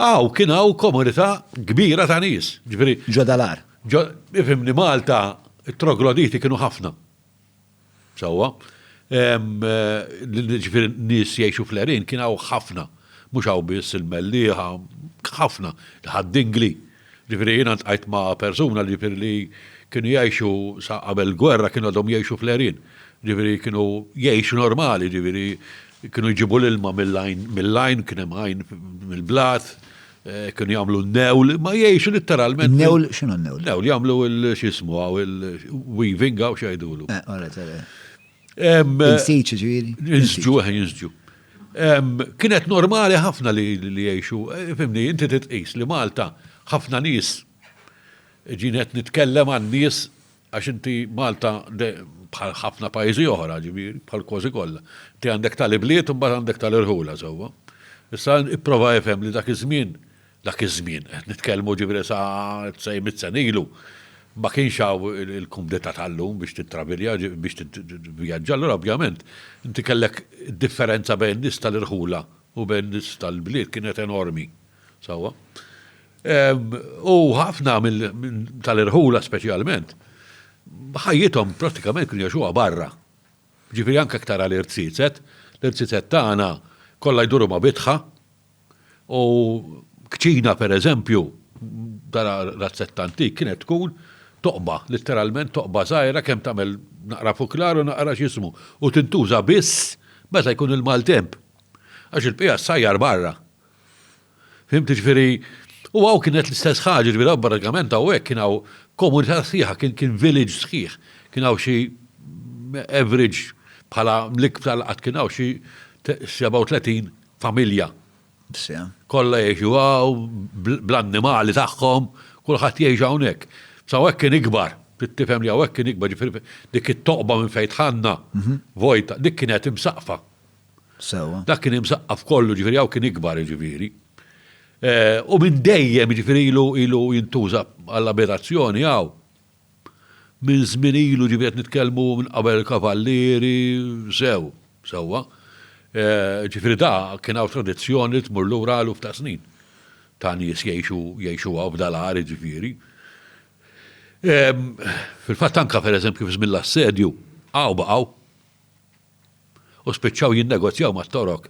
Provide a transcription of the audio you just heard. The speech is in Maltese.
Aw, kien hawn komunità kbira ta' nies, ġifieri. Ġodalar. Ifimni Malta, it-trogloditi kienu ħafna. Sewwa. Ġifieri nies jgħixu fl-erin kien hawn ħafna. Mhux hawn biss il-mellieħa, ħafna, ħaddingli. Ġifieri jiena ltqajt ma' persuna li ġifieri li kienu jgħixu sa qabel il-gwerra kienu għadhom jgħixu fl-għerien. Ġifieri kienu jgħixu normali, ġifieri kienu jġibu l-ilma mill-għajn mill-għajn, kien hemm għajn mill-blat, kienu jagħmlu n-newl, imma jgħixu litteralment. In-newl, x'inhu n-newl? Newl, jagħmlu l-x'jismu hawn il-weaving hawn x'jgħidulu. Eh, all right, all right. Insiċ ġiri. Insġu, eh, insġu. Kienet normali ħafna li jiexu, eh, fimni, inti titqis li Malta ħafna nis ġinet nitkellem għan nis għax inti Malta bħal ħafna pajjiżi oħra, ġifieri, bħal kważi kollha. Ti għandek tal-ibliet u mbagħad għandek tal-irħula sewwa. Issa ipprova jifhem li dak iż-żmien Dak iż-żmien, qed nitkellmu ġifieri sa sej mitt sena ilu, ma kienx hawn il-kumdità tal-lum biex tittravilja, biex tivvjaġġa, allura ovvjament inti kellek id-differenza bejn in-nies tal-irħula u bejn in-nies tal-bliet kienet enormi. Sewwa? U ħafna tal-irħula speċjalment, ħajjithom prattikament kienu jgħixuha barra. Ġifieri anke jekk tara l-irtsiset, l-irtsiset tagħna kollha jduru ma' bitħa, U kċina, per eżempju, tara razzetta antik, kienet tkun toqba, litteralment toqba żgħira kemm tagħmel naqra fuklar u naqra x'jismu, u tintuża biss meta jkun il-maltemp. Għax il-bqija ssajjar barra. Fhimt, jiġifieri, u hawn kienet l-istess ħaġa, jiġifieri hawn pratikament hawnhekk kien hawn komunità sħiħa, kien kien village sħiħ. Kien hawn xi average bħala l-iktar li qatt kien hawn xi 37 familja. Kollha jgħixu hawn bl-annimali tagħhom, kulħadd jgħix hawnhekk. Sa hawnhekk kien ikbar, trid tifhem li hawnhekk kien ikbar, ġifieri dik it-toqba minn fejn dħalna vojta, dik kienet imsaqqfa. Dak kien imsaqqaf kollu, ġifieri hawn kien ikbar jiġifieri. U minn dejjem jiġifieri ilu jintuża għall-abitazzjoni hawn. Minn żmien ilu, ġifieri qed nitkellmu minn qabel il-Kavallieri, sew, sewwa, ġifieri da kien hawn tradizzjoni li tmur lura eluf ta' snin ta' nies jgħixu jgħixuha f'da l-għar jiġifieri. Fil-fatt anke pereżempju fi żmien l-assedju hawn baqgħu. u spiċċaw jinnegozjaw mat-Torok.